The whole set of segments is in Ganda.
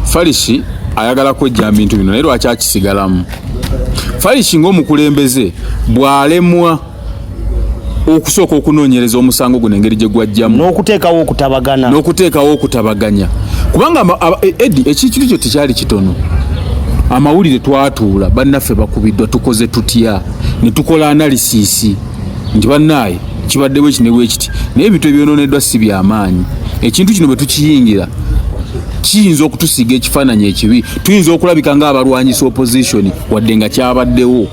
Farishi ayagala kwejja bintu bino naye lwaki akisigalamu? Farishi ng'omukulembeze bw'alemwa okusooka okunoonyereza omusango guno engeri gye gwajjamu n'okuteekawo okutabagana n'okuteekawo okutabaganya kubanga e, edi ekintu kyo tekyali kitono amawulire twatuula bannaffe bakubiddwa tukoze tutya ne tukola analisisi nti bannaaye kibadde bwekiti ne bwekiti naye ebintu ebyononeddwa si byamaanyi ekintu kino bwe tukiyingira kiyinza okutusiga ekifaananyi ekibi tuyinza okulabika ng'abalwanyisa opposition wadde nga kyabaddewo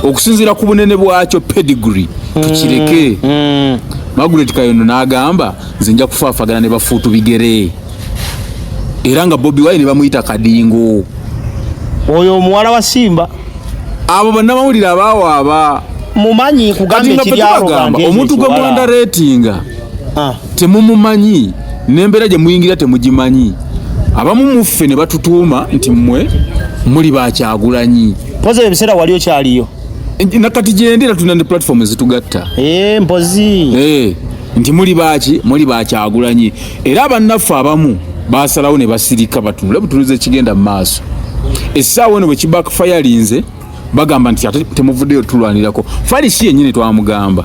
okusinziira ku bunene bwakyo pedigree tukireke mm, mm. magret kayondo n'agamba nze nja kufaafagana ne bafuutu bigere era nga bobi wine bamuyita kadingo oyo omuwala wa simba abo bannamawulire abaawaaba mumanyi kugamba ekiryalogamba omuntu gwe mwanda retinga ah. temumumanyi nembeera gye muyingira temugimanyi abamu muffe ne batutuuma nti mmwe muli bakyagulanyi mpozi ebiseera wali okyaliyo nakati gyendera tulina ne platform ezitugatta eh, mpozi eh, nti muli baki muli bakyagulanyi era abannaffe abamu basalawo ne basirika batunule butunuza ekigenda mu maaso essaawa eno bwe kibakfayalinze bagamba nti ate temuvuddeyo tulwanirako falisi yennyini twamugamba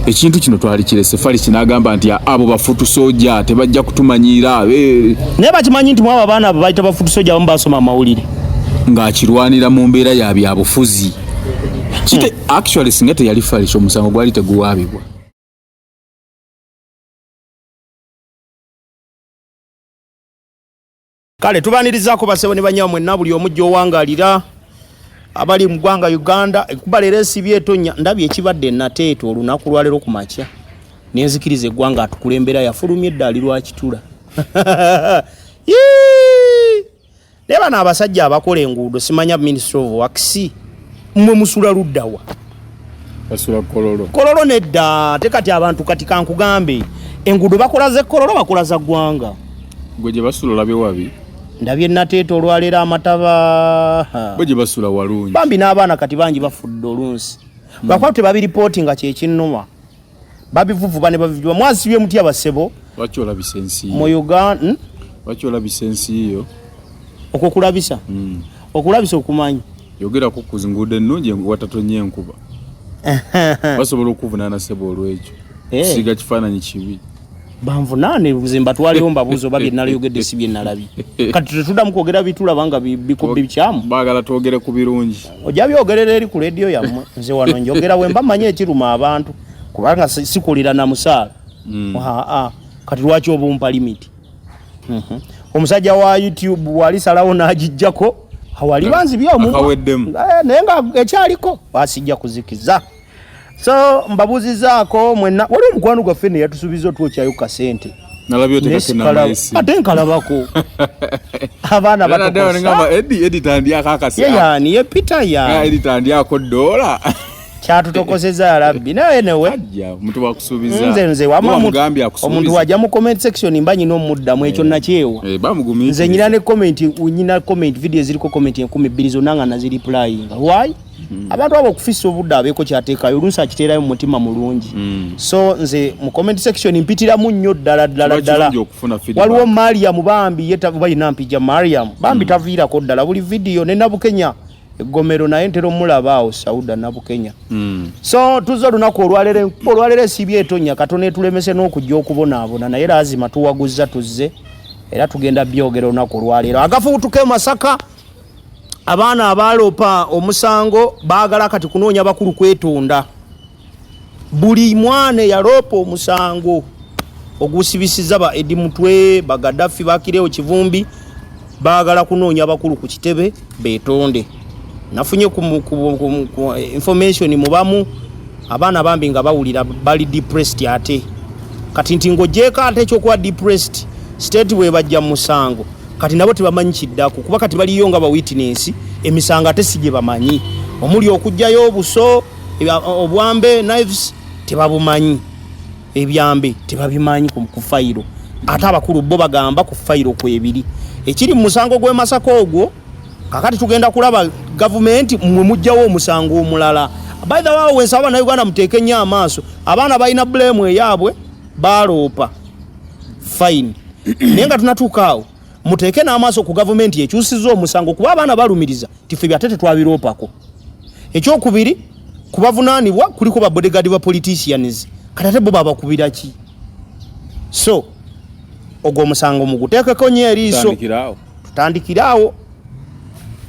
ekintu kino twali kirese falisi n'agamba nti abo bafutu soja tebajja kutumanyiira eh. naye bakimanyi nti mwabo abaana abo bayita bafutu soja abamu basoma amawulire ng'akirwanira mu mbeera ya byabufuzi kite hmm. actually singa teyali falisi omusango gwali teguwaabibwa kale tubanirizaako basebo ne banyawa mwenna buli omu gyowangalira abali mu ggwanga uganda ekuba leero esibye etonya ndabye ekibadde nateeta olunaku lwaleero ku makya nenzikiriza eggwanga atukulembera yafulumye eddaali lwakitula naye bano abasajja abakola enguudo simanya ministry of works mwe musula luddawa basula kololo kololo nedda te kati abantu kati kankugambe enguudo bakola ze kololo bakola za ggwanga gwe gye basula olabe wabi ndabye nateeta olwaleero amataba gwe gye basula walungi bambi n'abaana kati bangi bafudde olunsi hmm. lwakuba tebabiripooti nga kyekinnuma babivuvuba ne babivuba mwasibye muti abasebo lwaki olabisa ensi mu uganda hmm? lwaki olabisa ensi yo okwo kulabisa hmm. okulabisa okumanyi yogerako ku nguudo ennungi watatonye enkuba basobola okuvunaana sebo olwekyo eh. siga kifaananyi kibi banvunaane nze mbatwalewo mbabuuza oba byenaleyogedde si byenalabye kati tetuddamu kwogera bitulaba nga bikyamu bagala twogere ku birungi ojja byogerera eri ku lediyo yammwe nze wano njogera wemba manyi ekiruma abantu kubanga sikulira na musaala hmm. aa kati lwaki obumpa limiti mhm. omusajja wa youtube wali salawo n'agijjako awali banzi byomu eh, naye nga ekyaliko basijja kuzikiza so mbabuzizaako mwenna waliwo omukwano gwaffe ne yatusuubiza otwokyayo ku kasente ate nkalabako abaana batokosayeyaani ye peter yaanitandyako dola kyatutokozeza yarabbi naye newenze nze wamuomuntu waja mu comment section mba nyina omuddamu ekyo eh. nakyewa eh, nze nyina ne comment nyina comment video eziriko comment enkumi bbiri zonna nga naziriplayinga why Hmm. abantu abo okufisa obudde abeeko kyateekayo oluusi akiteerayo mu mutima mulungi hmm. so nze mu comment section mpitiramu nnyo ddala ddala ddala waliwo mariam bambi ye balina mpija mariam bambi hmm. taviirako ddala buli vidiyo ne nabukenya eggomero naye ntera omulaba awo sauda nabukenya so tuzza olunaku olwalero olwalero esibi etonya katona etulemese n'okujja okubonaabona naye laazima tuwaguzza tuzze era tugenda byogera olunaku olwalero agafuutuka e masaka abaana abaaloopa omusango baagala kati kunoonya bakulu kwetonda buli mwana eyaloopa omusango ogusibisiza ba edi mutwe bagadafi bakirewo kivumbi baagala kunoonya bakulu ku kitebe betonde nafunye information mubamu abaana bambi nga bawulira bali depressed ate kati nti ng'ogyeko ate ekyokuba depressed state bwebajja musango kati nabo tebamanyi kiddako kuba kati baliyo nga bawitinensi emisango ate si gye bamanyi omuli okugjayo obuso obwambe knives tebabumanyi ebyambe tebabimanyi ku fayiro ate abakulu bo bagamba ku fayiro kwebiri ekiri mu musango gw'e masaka ogwo kakati tugenda kulaba gavumenti mwe mujjawo omusango omulala by the way wensaba banauganda muteeke nnyo amaaso abaana balina bulemu eyaabwe baaloopa fine naye nga tunatuuka awo muteeke n'amaaso ku gavumenti ekyusiza omusango kuba abaana balumiriza tife byate tetwabiroopako ekyokubiri kubavunaanibwa kuliko babodegaadi ba politicians kati ate bo babakubira ki so ogwo omusango muguteekeko nyo eriiso tutandikire awo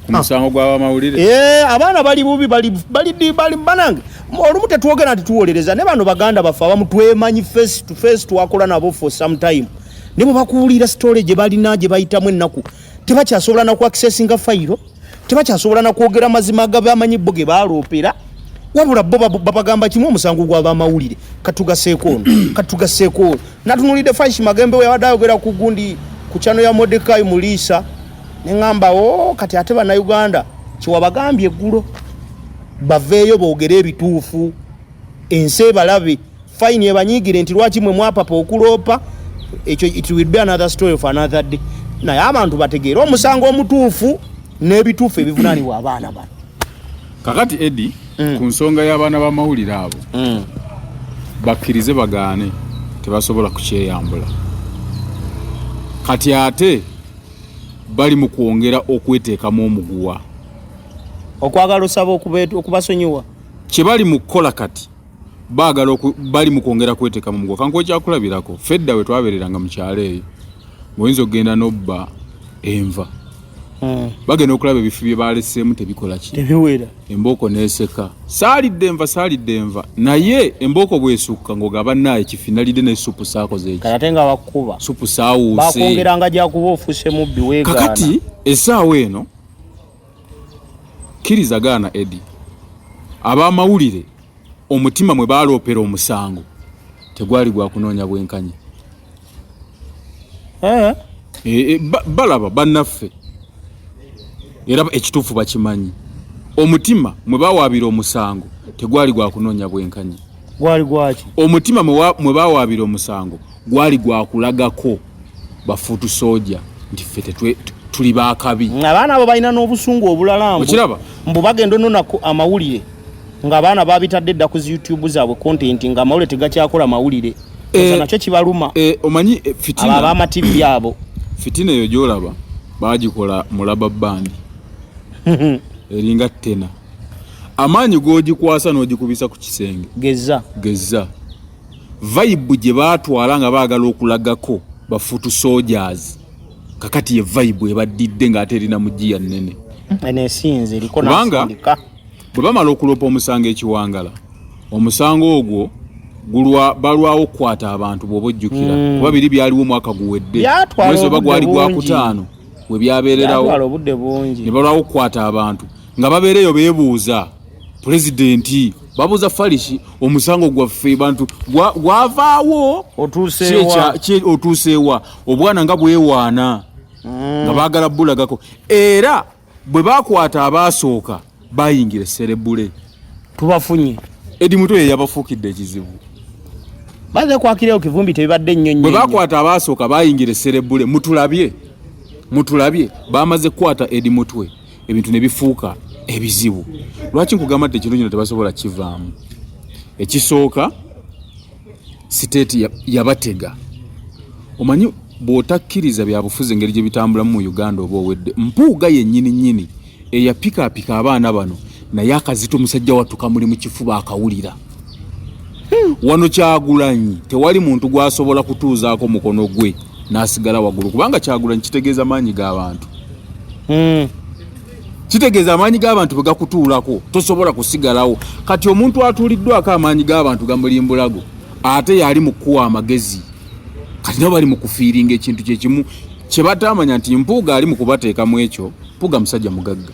ku musango gw'abamawulire eh, abaana bali bubi bali bali banange olumu tetwogera nti tuwolereza ne bano baganda baffe abamu twemanyi face to face twakola nabo for some time ne bwe bakuwulira sitole gye balina gye bayitamu ennaku tebakyasobola na ku accessinga fayiro tebakyasobola na kwogera mazima agabamanyi bo ge baaloopera wabula bo babagamba kimu omusango gw'abamawulire katugaseeko ono katugaseeko ono Natunulidde Faish Magembe yabadde ayogera ku gundi ku chano ya Mordecai Muliisa ne ngamba o oh, kati ate bannayuganda kyewabagambye eggulo baveeyo boogere ebituufu ensi ebalabe fayini ebanyiigire nti lwaki mwe mwapapa okuloopa ekyo it will be another story of another day naye abantu bategeere omusango omutuufu n'ebituufu ebivunaanibwa abaana bano kakati edi mm. ku nsonga y'abaana b'amawulire abo mm. bakkirize bagaane tebasobola kukyeyambula kati ate bali mu kwongera okweteekamu omuguwa okwagala osaba okubasonyiwa kye bali mu kukola kati baagala bali mu kwongera kweteeka mu mugo kankuwa ekyakulabirako fedda we twabeereranga mu kyalo eyo ngaoyinza okugenda n'obba enva eh. bagenda okulaba ebifi bye baaleseemu tebikola ki tebiwera embooko neeseka saalidde enva saalidde enva naye embooko bwesukka ng'ogaba naayo ekifi nalidde ne supu saakoze eki ate nga bakukuba supu saawuuse bakwongeranga gyakuba ofuuse mubbi weegaana kakati essaawa eno Kiriza gaana Eddie. Abamawulire omutima mwe baaloopera omusango tegwali gwa kunoonya bwenkanya. Eh? Eh, eh, balaba bannaffe era ekituufu bakimanyi. Omutima mwe bawaabira omusango tegwali gwa kunoonya bwenkanya. Gwali gwaki? Omutima mwe bawaabira omusango gwali gwakulagako bafuutu soja nti ffe tuli bakabi abaana abo balina n'obusungu obulala okiraba mbu bagenda ononaku amawulire ngaabaana babitadde dda ku youtube zaabwe kontenti nga amawulire tegakyakola mawulire eh, nakyo kibaluma eh, omanyi eh, fitina abamativi abo fitina eyo gyolaba bagikola mulaba bandi eringa tena amaanyi gogikwasa n'ogikubisa ku kisenge gezza gezza vibe gye baatwala nga baagala okulagako bafutu soldiers kakati ye vibe ebaddidde ng'ate erina mu giya nnene kubanga bwe bamala okuloopa omusango ekiwangala omusango ogwo gulwa balwawo okukwata abantu bw'oba ojjukira mm. kuba biri byaliwo omwaka guwedde mwezi oba gwali gwakutaano we byabeererawo ne balwawo okukwata abantu nga babeera eyo beebuuza pulezidenti babuuza falishi omusango gwaffe bantu gwavaawo otuuseewa obwana nga bwewaana mm. nga baagala bulagako era bwe bakwata abaasooka bayingira eserebule tubafunye edi mutwe yeyabafuukidde ekizibu baze kwakirayo kivumbi tebibadde nnyo nnyo. Bwe bakwata abaasooka baayingira esserebbule mutulabye mutulabye baamaze kukwata edi mutwe. ebintu ne bifuuka ebizibu lwaki nkugamba nti ekirungi no tebasobola kivaamu ekisooka siteeti yabatega ya omanyi bw'otakkiriza byabufuzi engeri gye bitambulamu mu uganda oba owedde mpuuga yennyini nnyini eyapikaapika abaana bano naye akazito omusajja wattu kamuli mu kifuba akawulira hmm. wano kyagulanyi tewali muntu gw'asobola kutuuzaako mukono gwe nasigala wagulu kubanga kyagulanyi kitegeeza maanyi g'abantu hmm. kitegeeza amaanyi g'abantu bwe gakutuulako tosobola kusigalawo kati omuntu atuuliddwako amaanyi g'abantu gamulimbulago ate yali mu kukuwa amagezi kati nabo bali mu kufiiringa ekintu kyekimu kye bataamanya nti mpuuga ali mu kubateeka mu ekyo mpuuga musajja mugagga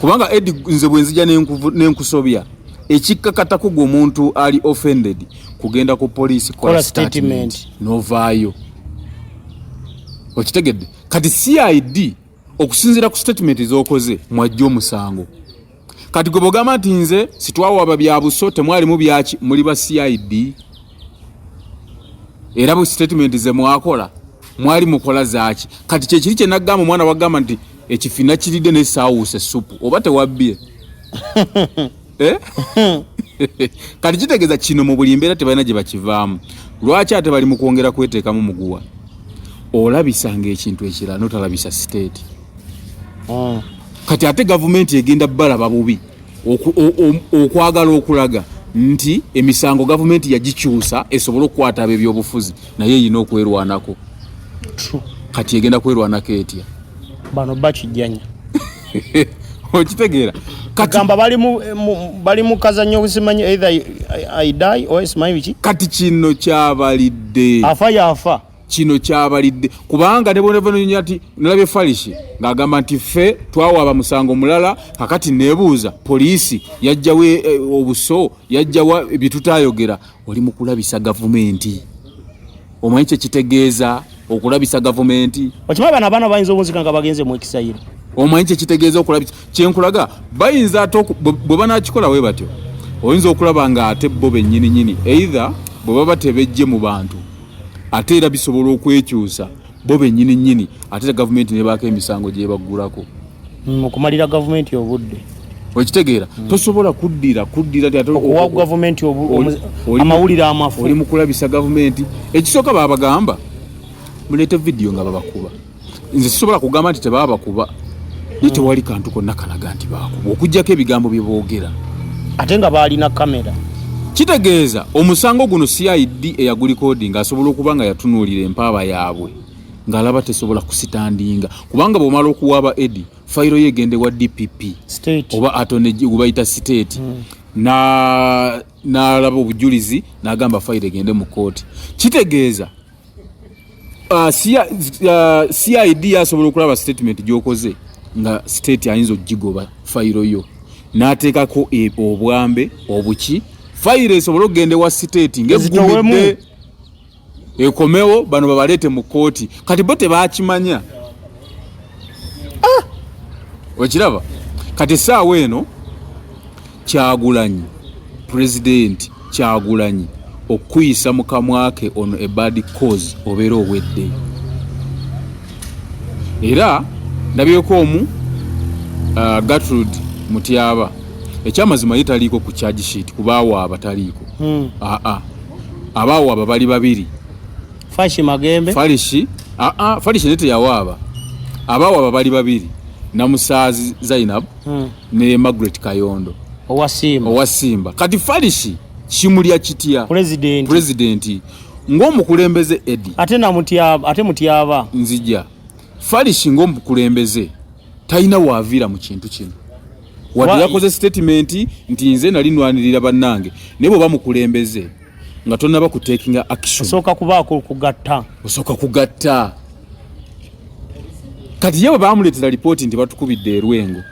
kubanga edi nze bwenzija nenkusobya ekikkakatako gwe omuntu ali offended kugenda ku poliisi kola statement novaayo okitegedde kati cid okusinziira ku statement zokoze mwajja omusango kati gwe bogamba nti nze sitwawaba byabuso temwalimu byaki muli ba cid era mu sitatimenti ze mwakola mwali mukola zaaki kati kyekiri kye nagamba omwana wagamba nti ekifina kiridde ne saawuusa essupu oba tewabbye eh? kati kitegeeza kino mu buli mbeera tebalina gye bakivaamu lwaki ate bali mu kwongera kweteekamu muguwa olabisanga ekintu ekirala notalabisa siteeti hmm. kati ate gavumenti egenda balaba bubi okwagala okulaga nti emisango gavumenti yagikyusa esobole okukwata abebyobufuzi naye erina okwerwanako kati egenda kwerwanako etya bano bakijjanya okitegeera katamba bali mu kazanyo okusimanyi either i die or smile ki kati kino kyabalidde afa yafa kino kyabalidde kubanga ne bwonava nonya ti nalabye falishi ng'agamba nti ffe twawaaba musango mulala kakati nebuuza poliisi yajjawo eh, eh, obuso yajjawa byetutayogera oli mu kulabisa gavumenti omanyi kyekitegeeza okulabisa gavumenti okimanyi bano abaana bayinza obunzika nga bagenze mu ekisayiro omanyi kyekitegeeza okulabisa kyenkulaga bayinza ate bwe banakikola we batyo oyinza okulaba nga ate bo bennyininyini either bwe baba tebejje mu bantu ate era bisobola okwekyusa bo benyini nyini ate era gavumenti nebaako emisango gyebaggulako mukumalira mm, gavumenti obudde okitegeera mm. tosobola kuddira kuddiraokuwa gavumenti amawulire amafu oli mukulabisa gavumenti ekisooka babagamba muleete vidiyo nga babakuba nze sisobola kugamba nti tebaaba kuba naye mm. tewali kantu konna kalaga nti baakuba okugyako ebigambo bye boogera ate nga baalina kamera kitegeeza omusango guno cid eyagulikodi nga asobola okuba nga yatunuulira empaaba yaabwe ng'alaba tesobola kusitandinga kubanga bw'omala okuwaaba edi fayiro ye egende wa dpp oba atone gwebayita siteeti mm. n'alaba obujulizi n'agamba fayiro egende mu kkooti kitegeeza Uh, CID uh, yasobola okulaba statement gyokoze nga state ayinza okugigoba fayiro yo n'ateekako e, obwambe obuki fayiro esobole okugenda ewa state ngegumidde ekomewo bano babaleete mu kkooti kati bo tebakimanya ah! okiraba kati esaawa eno Kyagulanyi president kyagulanyi okukuyisa mukamwake ono a bad cause obeera obwedde era ndabyeko omu uh, gatrud mutyaba ekyamazima ye taliiko ku charge sheet kubaawo abataliiko hmm. aa ah, ah. abaawo aba bali babiri fashi magembe falishi aa ah, falishi nete yawaaba abaawo aba bali babiri namusaazi zainab hmm. ne Margaret Kayondo owa Simba owa Simba kati Farishi kimulya kitya president president ng'omukulembeze Eddie ate na mutyaba ate mutyaba nzija Farishi ng'omukulembeze talina waavira mu kintu kino wadde yakoze statement nti nze nali nwanirira bannange naye bwe bamukulembeze nga tonaba ku taking action osoka kubako kugatta osoka kugatta kati yewe bamuletera report nti batukubidde erwengo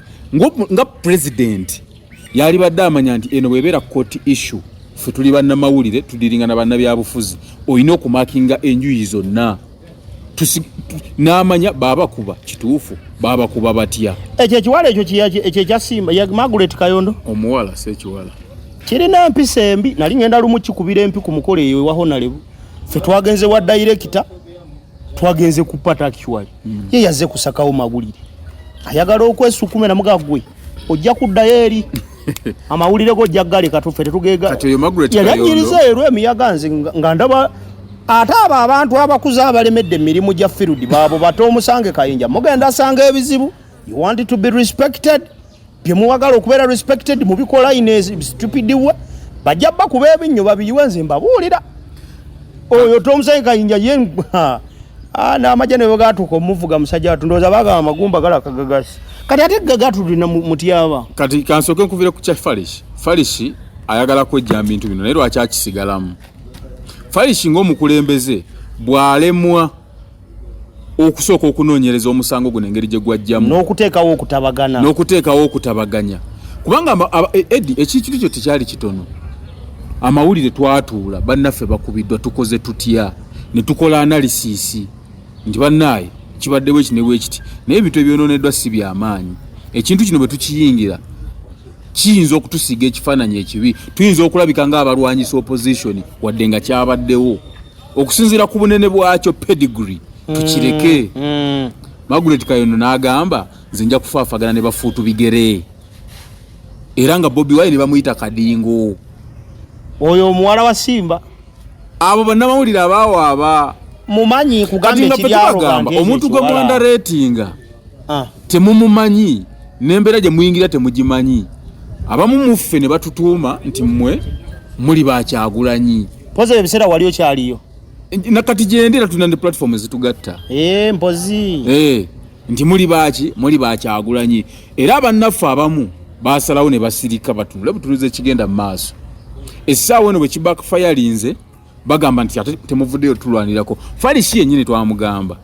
nga president yali badde amanya nti eno bwebera court issue fe tuli banamawulire tudiringa na banabyabufuzi olina okumakinga enjuyi zonna n'amanya baabakuba kituufu baabakuba batya ekyo ekiwala ekyo ekyo ekyasimba ya margaret kayondo omuwala si ekiwala kirina mpisa embi nali ngenda lumu kikubira empi ku mukolo eyo ewa honalebu fe twagenze wa dayirekita twagenze kupata actually hmm. ye yazze kusakawo mawulire ayagala okwesukumira mugagwe ojja kuddayo eri amawulire go jaggale katuffe tetugegayannyiriza ero emiyaga nze nga ndaba ate abo abantu abakuze abalemedde emirimu gya firudi baabo bate omusange kayinja mugenda asanga ebizibu you want to be respected byemuwagala okubeera respected mubikola in a stupid way bajja bakuba ebinnyo babiyiwe nze mbabuulira oyo tomusayi kayinja ye ah, n'amagye ne bwegatuuka omuvuga musajja watu ndowooza bagamba amagumba gala kagagasi kati ate gagatulina mutyaba kati kansooke nkuvire ku kya farish farish ayagala kwejja mbintu bino naye lwaki akisigalamu farish ng'omukulembeze bw'alemwa okusooka okunoonyereza omusango guno engeri gye gwajjamu n'okuteekawo okutabagana n'okuteekawo okutabaganya kubanga e, edi ekikitu kyo tekyali kitono amawulire twatuula bannaffe bakubiddwa tukoze tutya ne tukola analysis nti bannaaye kibaddewo eki ne bwekiti naye ebintu ebyonooneddwa si byamaanyi ekintu kino bwe tukiyingira kiyinza okutusiiga ekifaananyi ekibi tuyinza okulabika ng'abalwanyisa opposition wadde nga kyabaddewo okusinziira ku bunene bwakyo pedigree tukireke mm, mm. magulet kayondo n'agamba nze nja kufaafagana ne bafuutu bigere era nga bobi wayi ne bamuyita kadingo oyo omuwala wa simba abo bannamawulire abaawaaba mumanyi kugamba ekiryaogamba omuntu gwe mwanda reetinga ah. temumumanyi nembeera gye muyingira temugimanyi abamu muffe ne batutuuma nti mmwe muli bakyagulanyi poza ebiseera wali okyaliyo nakati gyendera tulina ne platform ezitugatta eh, mpozi eh, nti muli baaki muli bakyagulanyi era abannaffe abamu basalawo ne basirika batunule butunuza ekigenda mu maaso essaawa eno bwe kibackfayalinze bagamba nti ate temuvuddeyo tulwanirako falisi yennyini twamugamba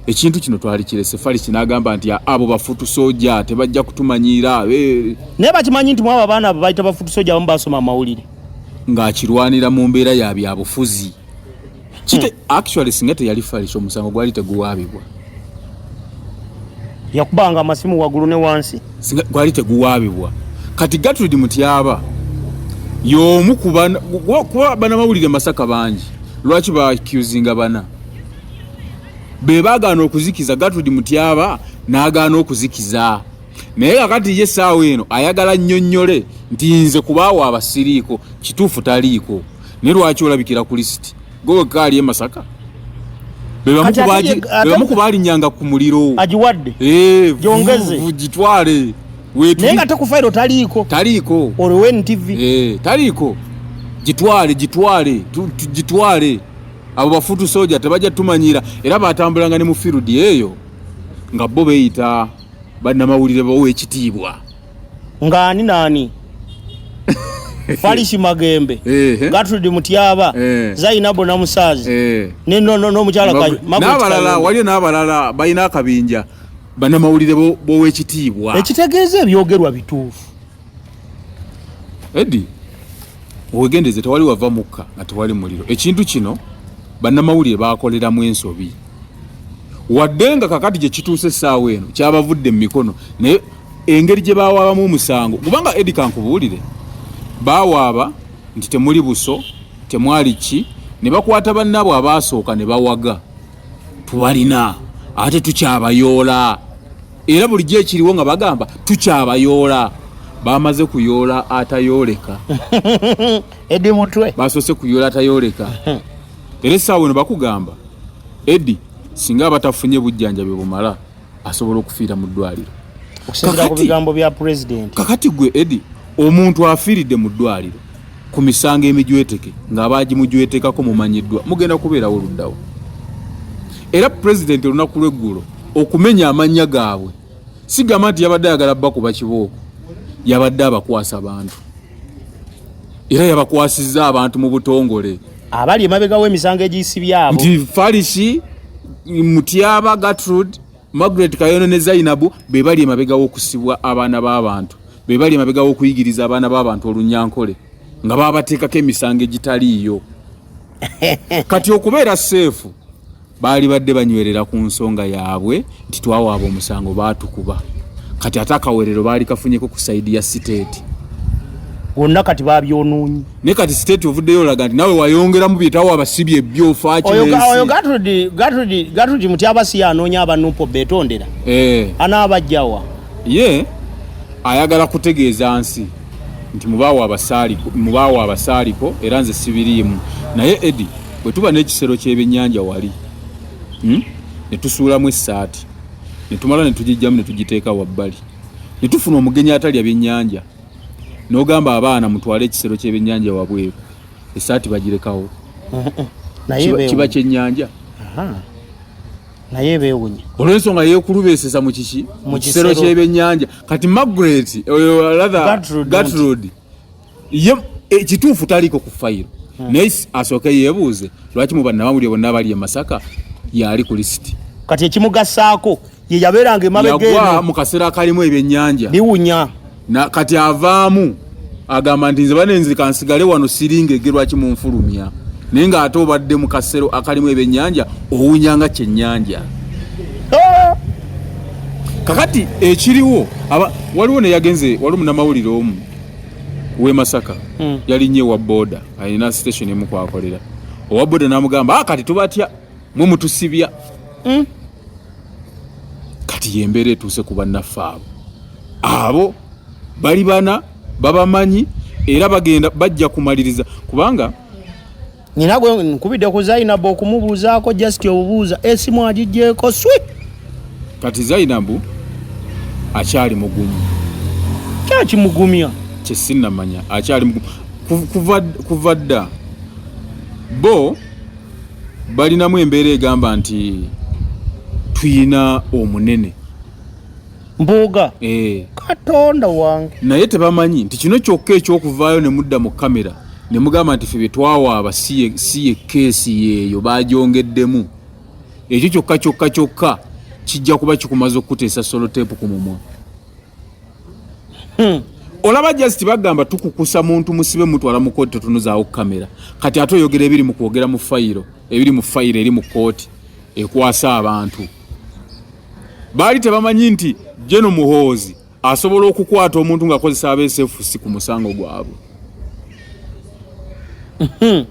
ekintu kino twali kirese falisi n'agamba nti abo bafutu soja tebajja kutumanyiira eh. naye bakimanyi nti mwabo abaana abo bayita bafutu soja abamu basoma amawulire ng'akirwanira mu mbeera ya byabufuzi hmm. actually singa teyali falisi omusango gwali teguwaabibwa yakubanga amasimu wagulu ne wansi gwali teguwabibwa kati gatrid mutyaba yomu kuba bana mawulire masaka bangi lwaki bakusinga bana be bagaana okuzikiza gatrid mutyaba nagaana okuzikiza naye kakati ye saawa eno ayagala nyonyole nti nze kubaawo abasiriiko kituufu taliiko naye lwaki olabikira ku lisiti Gwe wekka ali e Masaka? bebamu kubalinyanga ku muliro agiwadde eh, gyongeze gitwale naye nga tekufairo taliiko taliiko olwo ntv eh, taliiko gitwale gitwale gitwale abo bafutu soja tebajja tumanyira era batambulanga ne mu field eyo nga bo beyita bannamawulire bawo ekitiibwa ng'ani naani falishi magembe gatridi mutyaba zainabu namusazi nomukyala nabalala waliyo nabalala balina akabinja banamawulire bowekitiibwa ekitegeeza ebyogerwa bituufu edi wegendeze tewali wava mukka nga tewali muliro ekintu kino banamawulire bakoleramu ensobi wadde nga kakati gye kituuse essaawa eno kyabavudde mu mikono naye engeri gye bawaabamu omusango kubanga edi kankubuulire bawaaba nti temuli buso temwali ki ne bakwata bannaabwe abaasooka ne bawaga tubalina ate tukyabayoola era bulijjo ekiriwo nga bagamba tukyabayoola bamaze kuyoola atayooleka edi mutwe basoose kuyoola atayooleka era essaawa eno bakugamba edi singa abatafunye bujjanjabi bumala asobola okufiira mu ddwaliro okusinzira ku bigambo bya pulezidenti kakati gwe edi omuntu afiiridde mu ddwaliro ku misango emijweteke ng'abaagimujwetekako mumanyiddwa mugenda kubeerawo oluddawo era pulezidenti olunaku lw'eggulo okumenya amannya gaabwe sigamba nti yabadde ayagala bakuba kibooko yabadde abakwasa bantu era yabakwasizza abantu mu butongole abali emabega w'emisango egiyisibye abo nti farishi mutyaba gatrud margaret kayono ne zainabu be bali emabega w'okusibwa abaana b'abantu be bali emabega w'okuyigiriza abaana b'abantu olunyankole nga babateekako emisango egitaliiyo kati okubeera seefu Baalibadde banywerera ku nsonga yaabwe nti twawaaba omusango baatukuba kati ate akawerero baali kafunyeko ku sayidi ya siteeti wonna kati babyonoonyi naye kati siteeti ovuddeyo olaga nti nawe wayongeramu byetawo abasibi ebyofakigatudi muti abasi yanoonya abanupo betondera eh. anaabajjawa ye ayagala kutegeeza nsi nti mubaawo abasaaliko era nze sibiriimu naye edi bwe tuba n'ekisero ky'ebyennyanja wali hmm, ne tusuulamu essaati ne tumala ne tugijjamu ne tugiteeka wabbali ne tufuna omugenyi atalya byennyanja n'ogamba abaana mutwale ekisero ky'ebyennyanja wabweru essaati bagirekawo kiba kyennyanja naye bewunya olwensonga yekulubeseza mukiki mukisero kyebyenyanja kati magret oyo latha gatrod ye ekituufu eh, taliiko ku fayiro hmm. naye asooke yeebuuze lwaki mu bannamawulire bonna abali e masaka yaali ku lisiti kati ekimugasaako ye yabeeranga emabegeyagwa mu kaseera akalimu ebyennyanja biwunya kati avaamu agamba nti nze banenzi kansigale wano siringa ege lwaki munfulumya naye ng'ate obadde mu kasero akalimu ebyennyanja owunya nga kyennyanja ah! kakati ekiriwo waliwo neyagenze waliwo munamawulire omu we Masaka mm. yali nye wa boda alina station emu kwakolera owa boda namugamba ah, kati tubatya mwe mutusibya mm. kati yembeera etuuse ku bannaffe abo abo bali bana babamanyi era bagenda bajja kumaliriza kubanga Nina gwe nkubidde ku Zainabu okumubuuzaako just obubuuza esimu eh, agigyeko swi. Kati Zainabu akyali mugumu. Kyaki mugumya? Kye sinnamanya akyali mugumu kuva kuva dda bo balinamu embeera egamba nti tuyina omunene mbuuga eh. katonda wange naye tebamanyi nti kino kyokka ekyokuvaayo ne mudda mu kamera ne mugamba nti fe bye twawaaba si ye keesi yeeyo bagyongeddemu ekyo kyokka kyokka kyokka kijja kuba kikumaze okukuteesa soloteepu ku mumwa hmm. olaba just bagamba tukukusa muntu musibe mutwala mu kooti totunuzaawo kamera kati ate oyogera ebiri mu kwogera mu fayiro ebiri mu fayiro eri mu kooti ekwasa abantu baali tebamanyi nti jeno muhoozi asobola okukwata omuntu nga akozesa absfc ku musango gwabwe hmm.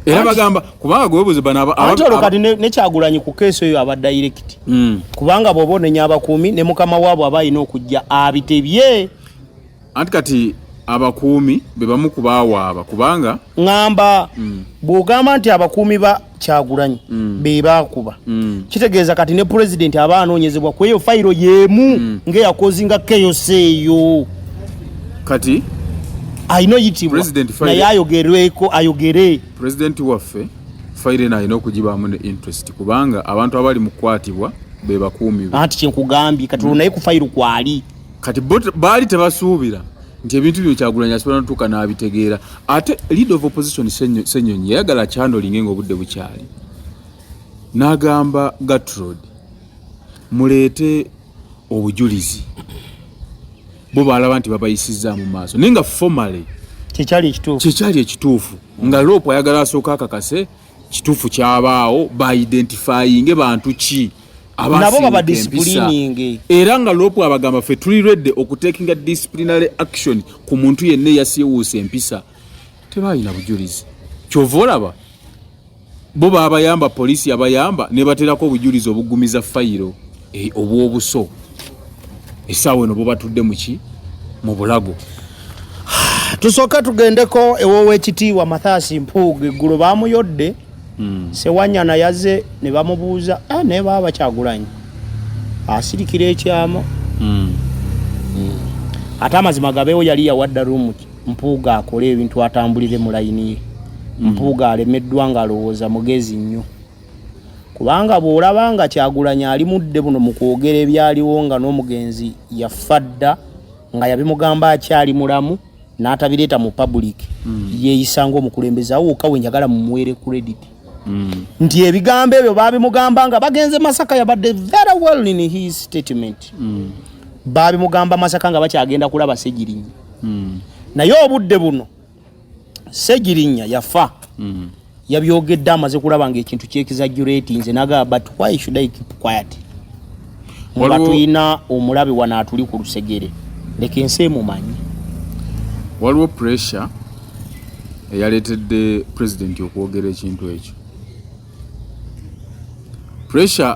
era bagamba kubanga gwebuze banaolokati nekyagulanyi ku keesi eyo aba direct hmm. kubanga bwoba onenya abakuumi ne mukama waabwe aba alina okujja abitebye anti kati abakuumi be bamu ku baawaaba kubanga ŋŋamba mm. bw'ogamba nti abakuumi ba kyagulanyi mm. be baakuba mm. kitegeeza kati ne pulezidenti aba anoonyezebwa ku eyo fayiro y'emu ng'eyakozinga keyosi eyo kati alina oyitibwa naye ayogerweko ayogere pulezidenti waffe fayiro eno alina okugibaamu ne interest kubanga abantu abali mu kukwatibwa be bakuumi be anti kyenkugambye kati olwo naye ku fayiro kwali kati baali tebasuubira nti ebintu byo kyagulanyi asobola notuuka n'abitegeera ate lead of opposition senyonyi yayagala kyandolinge nga obudde bukyali n'agamba gatrod muleete obujulizi bo baalaba nti babayisizzaamu maaso naye nga formaly kyekyali ekituufu nga loopu ayagala asooka akakase kituufu kyabaawo baidentifyinge bantu ki nabo baba disciplining era nga lopu abagamba fe tuli ready okutekinga disciplinary action ku muntu yenna eyasiwuusa empisa tebalina bujulizi kyova olaba bo babayamba poliisi yabayamba nebaterako obujulizi obugumiza fayiro e, obwobuso esaawa eno bubatudde muki mu bulago tusooka tugendeko ewowekitiibwa mathasi mpuuga eggulo bamuyodde mm. sewanyana yaze ne bamubuuza ah, naye baba bakyagulanyi asirikira ekyama mm. mm. ate amazima gabeewo yali yawadda rumu mpuuga akole ebintu atambulire mu layini ye mm. mpuuga alemeddwa nga alowooza mugezi nnyo kubanga bw'olaba nga kyagulanyi ali mudde buno mu kwogera ebyaliwo nga n'omugenzi yaffa dda nga yabimugamba akyali mulamu n'atabireeta mu public mm. yeeyisa ng'omukulembeze awo wokka we njagala mumuweere credit mm. nti ebigambo ebyo baabimugamba nga bagenze masaka yabadde very well in his statement mm. baabimugamba masaka nga bakyagenda kulaba segirinya mm. naye obudde buno segirinya yafa mm. yabyogedde amaze kulaba nga ekintu kyekizajjureti nze nagaa but why should i keep quiet nga tulina omulabe wano atuli ku lusegere leka ensi emumanyi waliwo pressure eyaleetedde pulezidenti okwogera ekintu ekyo pressure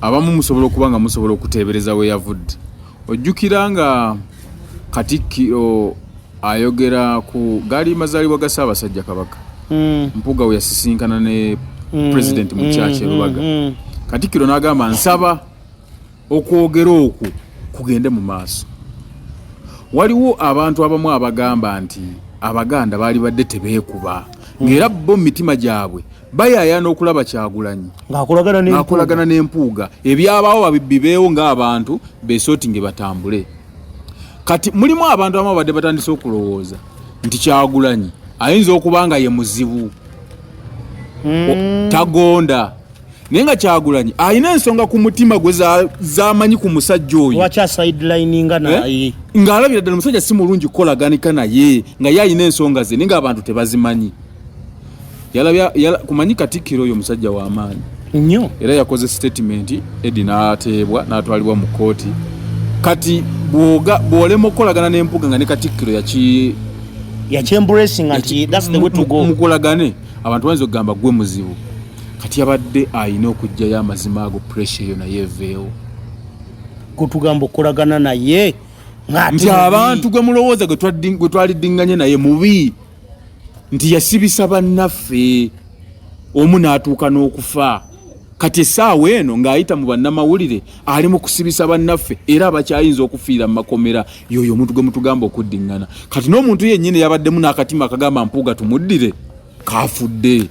abamu musobola okuba nga musobola okuteebereza we yavudde Ojjukira nga Katikkiro ayogera ku gaali mazaalibwa ga Ssaabasajja Kabaka mm. Mpuuga we yasisinkana ne mm. President mu kyakye mm. Lubaga mm. mm. Katikkiro n'agamba nsaba okwogera okwo kugende mu maaso. Waliwo abantu abamu abagamba nti Abaganda baali badde tebeekuba ng'era bo mu mitima gyabwe bayayana okulaba kyagulanyi ng'akolagana n'empuuga ebyabaawo babibeewo ng'abantu besooti nge batambule kati mulimu abantu abamu abadde batandise okulowooza nti kyagulanyi ayinza okuba nga ye muzibu hmm. tagonda naye nga kyagulanyi alina ensonga ku mutima gwe zamanyi ku musajja oyo eh? ng'alabira ddala omusajja si mulungi kukolaganika naye nga ye alina ensonga ze naye ng'abantu tebazimanyi kumanyi katikkiro oyo musajja wa maanyi nnyo era yakoze sitatimenti edi n'ateebwa n'atwalibwa mu kkooti kati bw'olema okukolagana n'empuga nga ne katikkiro yaki yakyemburesinga nti thats the way to go mukolagane abantu bayinza okugamba gwe muzibu kati abadde alina okugjayo amazima ago pressure eyo naye eveewo kutugamba okukolagana naye nti abantu gwe mulowooza gwe twaliddinganye naye mubi nti yasibisa bannaffe omu n'atuuka n'okufa kati essaawa eno ng'ayita mu bannamawulire ali mu kusibisa bannaffe era abakyayinza okufiira mu makomera yoyo omuntu gwe mutugamba okuddiŋŋana kati n'omuntu yennyini yabaddemu n'akatima akagamba mpuuga tumuddire kaafudde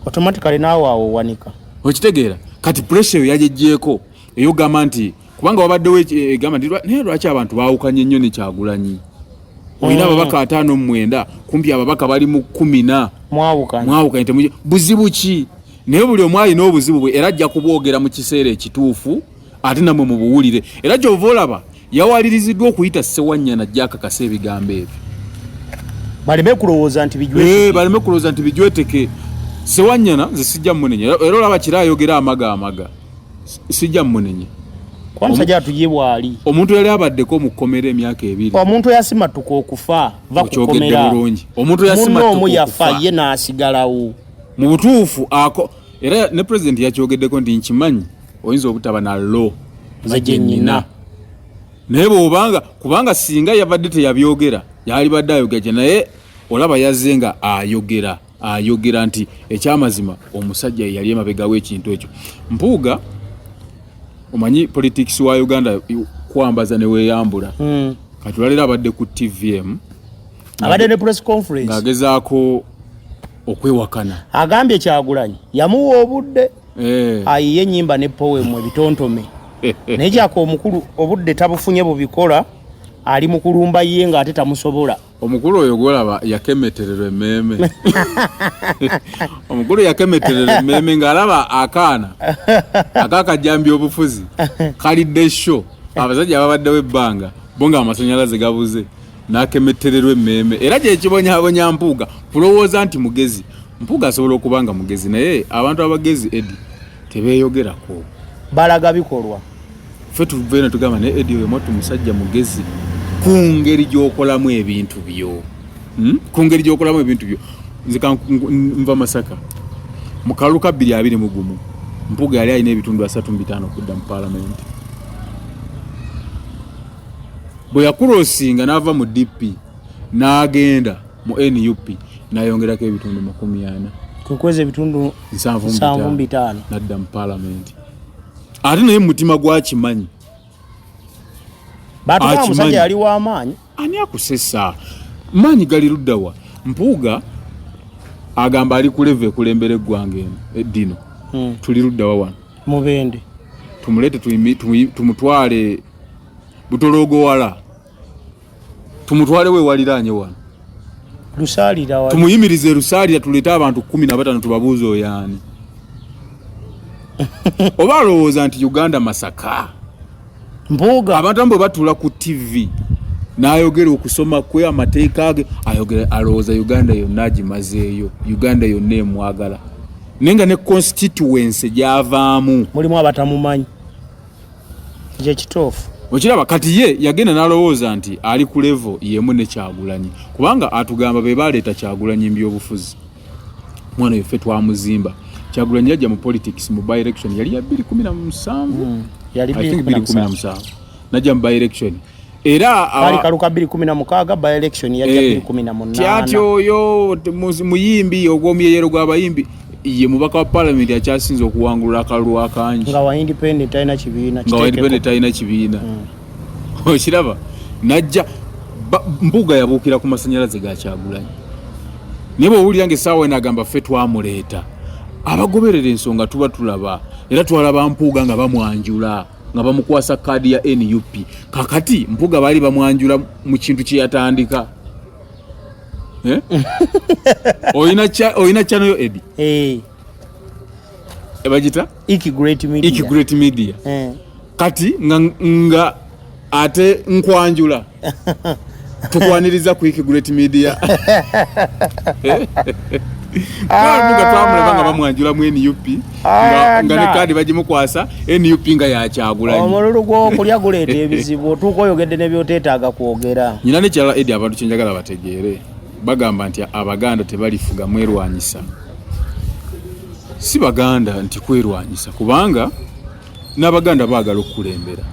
automatically naawe awo owanika okitegeera kati puresha eyo yagyeggyeeko eyogamba nti kubanga wabaddewo egamba eh, naye lwaki abantu baawukanye nnyo ne kyagulanyi olina mm. ababaka ataano mu mwenda kumpi ababaka bali mu kumi na mwawukanye buzibu ki naye buli omu alina obuzibu bwe era ajja kubwogera mu kiseera ekituufu ate namwe mubuwulire era kyova olaba yawaliriziddwa okuyita sewanyana jakakasa ebigambo ebyo baleme kulowooza nti bijweteke eh, baleme kulowooza nti bijweteke sewanyana nze sijja munenya era olaba kira ayogera amaga amaga sijja mmunenye omusajja atuje bwali omuntu yali abaddeko mu kkomera emyaka ebiri omuntu yasimatuka okufa va kukomera bulungi omuntu yasimatuka omu yafa ye n'asigalawo mu butuufu ako era ne pulezidenti yakyogeddeko nti nkimanyi oyinza obutaba na lo ze gyenyina naye bwobanga kubanga singa yabadde teyabyogera yalibadde ayogera kye naye olaba yazze nga ayogera ayogera nti ekyamazima omusajja yeyali emabega wekintu ekyo mpuuga omanyi politics wa uganda kwambaza neweyambula mm. kati olwalero abadde ku tvm abadde ne press conference ng'agezaako okwewakana agambye kyagulanyi yamuwa obudde eh. ayiye enyimba ne powemu ebitontome naye kyaka omukulu obudde tabufunye bubikola ali mukulumba ye ng'ate tamusobola omukulu oyo gwolaba yakemetererwa emmeeme omukulu yakemetererwa emmeeme ng'alaba akaana akakajjambi obufuzi kalidde sho abasajja babaddewo ebbanga bo nga amasanyalaze gabuze n'akemetererwa emmeeme era gyekibonyabonya mpuuga kulowooza nti mugezi mpuuga asobola okuba nga mugezi naye abantu abagezi edi tebeeyogerako balaga bikolwa Ffe tuva eno tugamba naye Eddie oyo mwattu musajja mugezi ku ngeri gy'okolamu ebintu byo hmm? ku ngeri gy'okolamu ebintu byo nze nva Masaka mu kalulu ka bbiri abiri mu gumu Mpuga yali alina ebitundu asatu mu bitaano okudda mu paalamenti bwe yakulosinga n'ava mu DP n'agenda mu NUP nayongerako ebitundu makumi ana kwekweza ebitundu nsanvu mu bitaano nadda mu paalamenti ate naye mumutima gwakimanyi batumusajja yali wamaanyi ani akusesa maanyi gali luddawa mpuuga agamba ali kuleva ekulembera eggwanga eno eddino hmm. tuli luddawa wano mubende tumulete tumutwale butologowala tumutwale we waliraanye wano lusalira wali tumuyimirize lusalira tulete abantu kumi na batano tubabuuza oyaani oba alowooza nti uganda masaka mbuuga abantu ambwe batula ku tv nayogera okusoma kwe amateeka ge ayogera alowooza uganda yonna agimazeeyo uganda yonna emwagala naye nga ne constituency gyavaamu mulimu abatamumanyi kyekituufu okiraba kati ye yagenda nalowooza nti ali ku levo yemu ne kyagulanyi kubanga atugamba be baleeta kyagulanyi mbyobufuzi mwana yeffe twamuzimba kyagulanyi yajja mu politics mu by election yali ya 217 hmm. najja mu by election era kali kaluka 2016 by election ya 2018 eh, kyati oyo muyimbi ogwomuyeyero gwabayimbi ye mubaka wa parliament akyasinze okuwangulula akalulu akangi nga wa independent talina kibiina nga wa independent talina kibiina hmm. okiraba najja mbuga yabuukira ku masanyalaze gakyagulanyi naye bwowulira nga esaawa ena agamba ffe twamuleeta abagoberera ensonga tuba tulaba era twalaba mpuuga nga bamwanjula nga bamukwasa kaadi ya nup kakati mpuga baali bamwanjula mu kintu kyeyatandika eh? olina kyanoyo edi eh. ebagita ikigreat media eh. kati nga ate nkwanjula tukwaniriza quick great media nga twamulaba nga bamwanjula mu nup nga ne kaadi bagimukwasa nup nga yakyagula omululu gwokulya guleeta ebizibu otuuka oyogedde nebyoteetaaga kwogera nyina nekyala edi abantu kyenjagala bategeere bagamba nti abaganda tebalifuga mwerwanyisa si baganda nti kwerwanyisa kubanga n'abaganda baagala okukulembera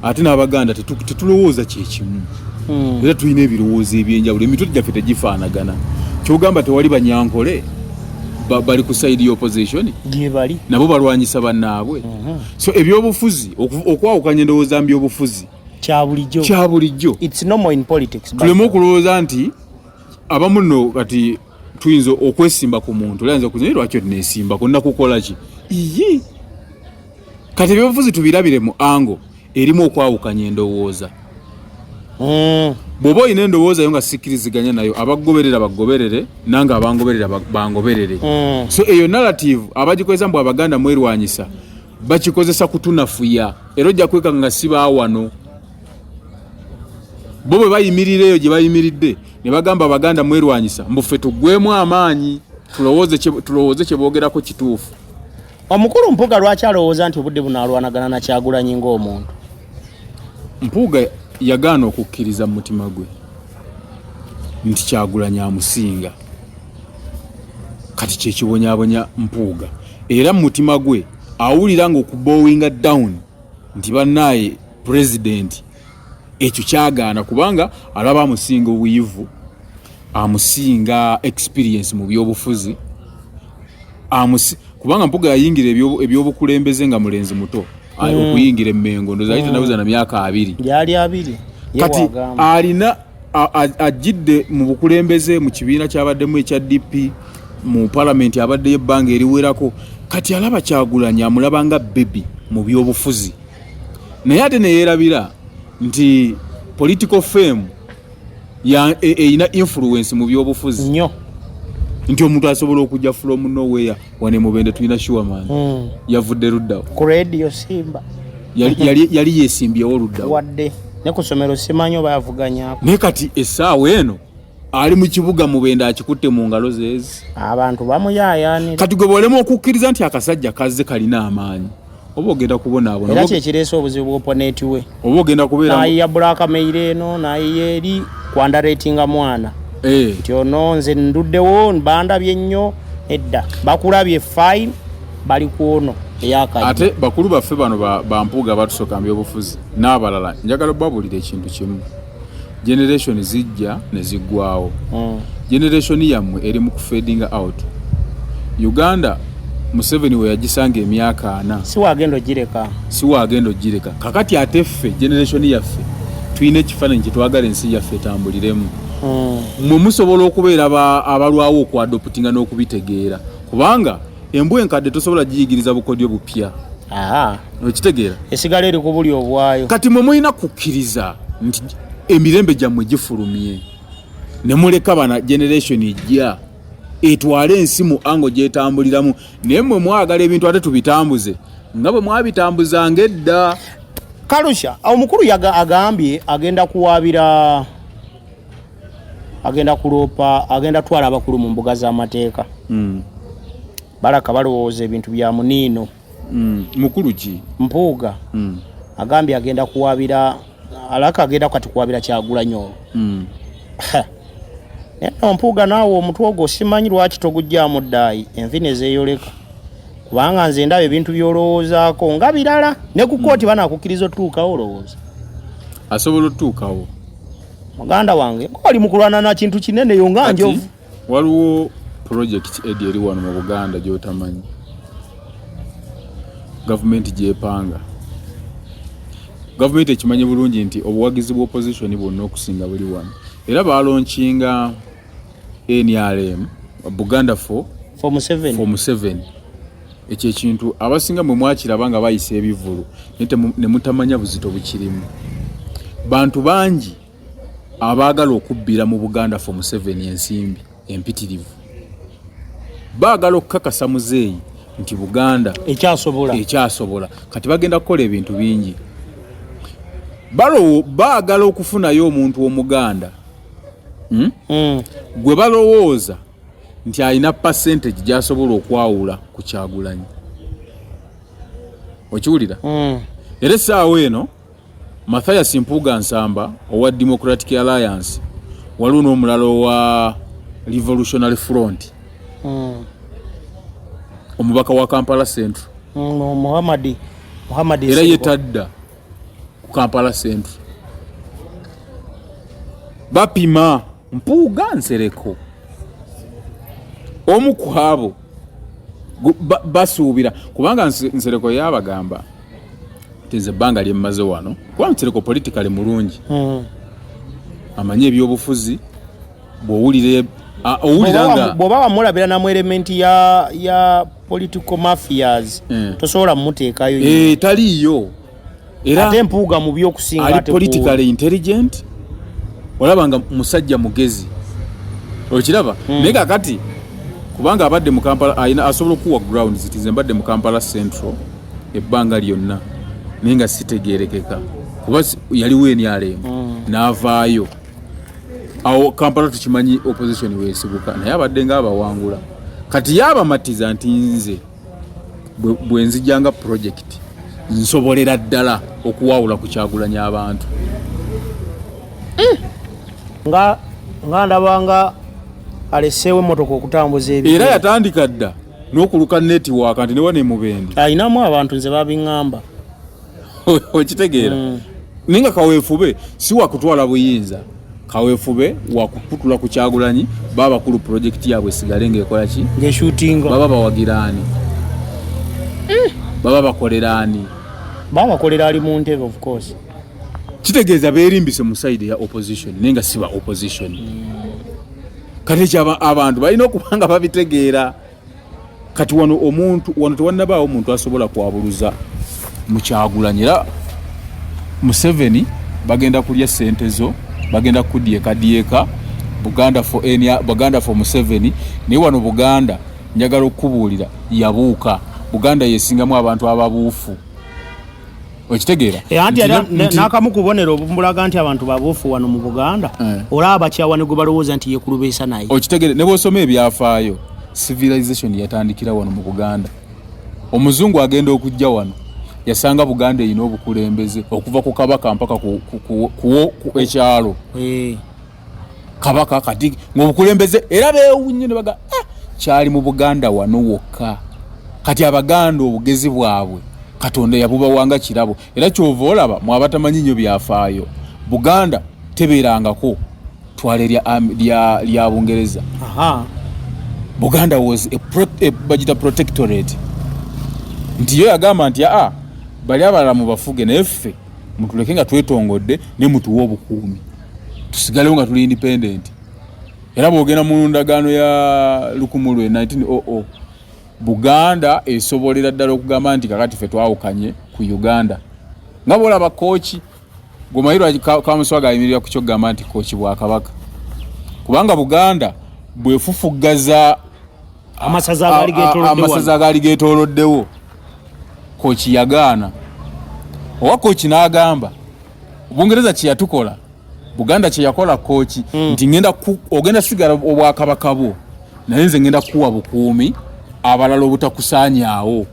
ate n'abaganda tetulowooza kyekimu hmm. era tulina ebirowoozo ebyenjawulo emitwe gyaffe tegifaanagana kyogamba tewali banyankole bali ku side ya opposition gyebali nabo balwanyisa bannaabwe mhm. so ebyobufuzi okwawukanya endowooza mbyobufuzi kyabulijjo kyabulijjo tuleme okulowooza nti abamu no kati tuyinza okwesimba ku muntu olayinza okuza naye lwaki otinesimbako nakukola ki iyi kati ebyobufuzi tubirabire mu ango erimu okwawukanya endowooza hmm. bwoba olina endowooza yo nga sikkiriziganya nayo abagoberera bagoberere nange abangoberera bangoberere hmm. so eyo narrative abagikozesa mbu abaganda mwerwanyisa bakikozesa kutunafuya era ojja kwekanga nga sibaawano bo bwe bayimirira eyo gye bayimiridde ne bagamba abaganda mwerwanyisa mbu ffe tuggwemu amaanyi tulowooze kye boogerako kituufu omukulu mpuuga lwaki alowooza nti obudde buno alwanagana na kyagulanyi ng'omuntu mpuuga yagaana okukkiriza mu mutima gwe nti kyagulanyi amusinga kati kyekibonyabonya mpuuga era mu mutima gwe awulira nga okubowinga down nti bannaaye pulezidenti ekyo kyagaana kubanga alaba amusinga obuyivu amusinga experience mu byobufuzi amusi kubanga mpuga yayingira ebyobukulembeze nga mulenzi muto hmm. okuyingira emengo ndoza ayita hmm. nabuza na myaka abiri yali abiri kati alina ajidde mu bukulembeze mu kibiina kyabaddemu ekya dp mu palamenti abaddeyo ebbanga eriwerako kati alaba kyagulanya amulaba nga bebi mu byobufuzi naye ate neyerabira nti political fame eyina e, e influence mu byobufuzi nyo nti omuntu asobola okujja from nowhere wane mubende tulina sure man mm. yavudde luddawo ku radio simba yali, yali, yali yesimbyewo luddawo wadde ne ku somero simanyi oba yavuganyako naye kati essaawa eno ali mu kibuga mubende akikutte mu ngalo zeezi abantu bamuyayanira kati gwe bwolema okukkiriza nti akasajja kazze kalina amaanyi oba ogenda kubonaabona era kyekireese obuzibu bwoponeti we oba ogenda kubeera nayiya bulaaka meire eno nayiya eri kwandaretinga mwana eh. nti ono nze nduddewo bandabye nnyo edda bakulabye fine bali kwono ate bakulu baffe bano bampuuga batusooka mu byobufuzi n'abalala njagala obabuulira ekintu kimu generation zijja ne ziggwawo mm. generation yammwe eri mu kufading out uganda museveni we yagisanga emyaka ana siwagenda ogireka siwagenda ogireka kakati ate ffe generation yaffe tulina ekifaananyi kyetwagala ensi yaffe etambuliremu mm. mwe musobola okubeera abalwawo okuadoputinga n'okubitegeera kubanga Embwa enkadde tosobola giyigiriza bukodyo bupya. Aha. Okitegeera? Esigala eri kubuli obwayo. Kati mwe mulina kukkiriza nti emirembe gyammwe gifulumye ne muleka bana generation ejja etwale ensi mu ango gyetambuliramu naye mwe mwagala ebintu ate tubitambuze nga bwe mwabitambuzanga edda kalusha omukulu agambye agenda kuwaabira agenda kuloopa agenda twala abakulu mu mbuga z'amateeka mm. balaka balowooza ebintu bya muniino mm. mukulu ki mpuuga mm. agambye agenda kuwabira alaka agenda kati kuwabira kyagulanyi olwo mm. mpuuga naawe omutwe ogwo simanyi lwaki togujjamu ddaayi envi nezeyoleka kubanga nze ndaba ebintu byolowoozaako nga birala ne ku kooti mm. banakukkiriza otutuukawo olowooza asobola otutuukawo muganda wange oli mukulwana na kintu kinene yo nga njovu waliwo project edi eri wano mu buganda gyotamanyi gavumenti gyepanga gavumenti ekimanyi bulungi nti obuwagizi bwa opposition bwonna okusinga buli wano era balonkinga nrm buganda for, for museveni ekyo ekintu abasinga mwe mwakiraba nga bayisa ebivulu ne mutamanya buzito bukirimu bantu bangi abaagala okubbira mu buganda fo museveni ensimbi empitirivu baagala okukakasa muzeeyi nti buganda ekyasobola ekyasobola kati bagenda kukola ebintu bingi balowo baagala okufunayo omuntu omuganda hmm? Hmm. gwe balowooza nti alina percentage gyasobola okwawula ku kyagulanyi okiwulira mm. era essaawa eno mathias mpuuga nsamba owa democratic alliance waliwo n'omulala owa revolutionary front mm. omubaka wa kampala central mm, muhammadi muhammadi era yetadda ku kampala central bapima Mpuuga Nsereko omu ku abo basuubira kubanga Nsereko yabagamba nti nze ebbanga lye mmaze wano kuba Nsereko politikale mulungi hmm. amanyi ebyobufuzi bw'owulira bwoba wamulabira namu elementi ya, ya political mafias mm. tosobola mumuteekayo e, taliiyo era ate mpuuga mu byokusinga ali politically intelligent olaba nga musajja mugezi okiraba hmm. naye kakati kubanga abadde mu kampala alina asobola okuwa ground ziti ze mbadde mu kampala central ebbanga lyonna naye nga sitegerekeka kuba yaliwo enyalembo hmm. n'avaayo awo kampala tukimanyi opposition wesibuka naye abadde nga abawangula kati yabamatiza nti nze bwe nzija nga project nsobolera ddala okuwawula ku kyagulanya abantu eh! nga nga ndabanga aleseewo emmotoka okutambuza ebi era yatandika dda n'okuluka netiwaaka nti newa nemubende alinamu abantu nze babiŋŋamba okitegeera mm. naye nga kaweefube si wakutwala buyinza kawefube wakukutula ku kyagulanyi babakulu pulojekiti yaabwe esigale ngaekola ki baba bawagira ani mm. baba bakolera ani baba bakolera ali mu ntebe of course kitegeeza berimbise mu saidi ya opposition naye nga siba opposition mm. kati ekyo abantu balina okuba nga babitegeera kati wano omuntu wano tewannabaawo omuntu asobola kwabuluza mukyagulanyi era museveni bagenda kulya sente zo bagenda kukudyekadyeka buganda for enia buganda for museveni naye wano buganda njagala okukubuulira yabuuka buganda yesingamu abantu ababuufu okitegeera eh, anti nakamu kubonero obumulaga nti abantu babuufu wano mu buganda eh. olaba bakyawa ne gwe balowooza nti yekulubeesa naye okitegeere ne bwosoma ebyafaayo civilization yatandikira wano mu buganda omuzungu agenda okujja wano yasanga buganda erina obukulembeze okuva ku kabaka mpaka ku ekyalo eh. kabaka kati ngaobukulembeze era bewunye nebaga ah, kyali mu buganda wano wokka kati abaganda obugezi bwabwe katonda yabubawanga kirabo era kyova olaba mwabatamanyi nyo byafaayo buganda tebeerangako twale lya bungereza buganda was bagita protectorate nti yo yagamba nti aa ah, bali abalala mubafuge naye ffe mutuleke nga twetongodde ne mutuwa obukuumi tusigalewo nga tuli independent era bwogenda mu ndagaano ya lukumu lwe 1900 buganda esobolera ddala okugamba nti kakati fe twawukanye ku uganda nga bwolaba kooki gwemayirwa kamuswaga ayimirira ku kyokugamba nti kooki bwakabaka kubanga buganda bwefufuggaza amasaza agaali getoloddewo koki yagaana owa koki n'agamba bungereza kyeyatukola buganda kyeyakola koki mm. nti ngenda ogenda sigala obwakabaka bwo naye nze ngenda kukuwa bukuumi abalala obutakusaanyaawo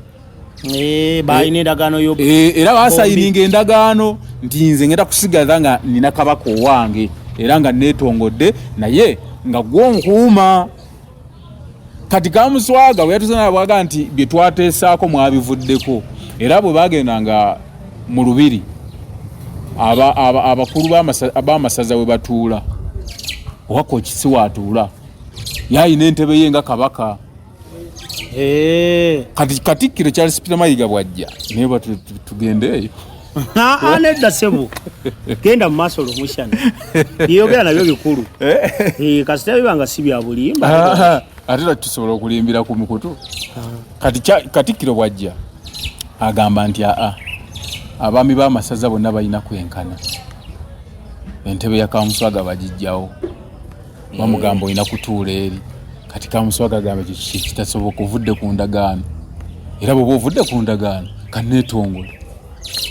eh, balina endagaano yo eh, eh, era basayininga endagaano nti nze ngenda kusigaza nga nina kabaka owange era nga netongodde naye nga gwomukuuma kati kamuswaga weyatuzanabwaga nti byetwateesaako mwabivuddeko era bwe bagenda nga mu lubiri abakulu b'amasaza we batuula owaka okisi waatuula yaalina entebe ye nga kabaka kati katikkiro charles peter mayiga bwajja naye batugendeeyo nedda sebo genda mu maaso lumushana yeyogera nabyo bikulu eh? Eh, kasita biba nga si bya bulimba ah, ate lwaki tusobola okulimbira ku mukutu ah. katikkiro bwajja agamba nti aa abaami b'amasaza bonna balina kwenkana entebe ya kamuswaga bagijjawo bamugamba olina kutuula eri kati kamuswaga agamba ekyo kitasoboka ovudde ku ndagaano era bweoba ovudde ku ndagaano kaneetongole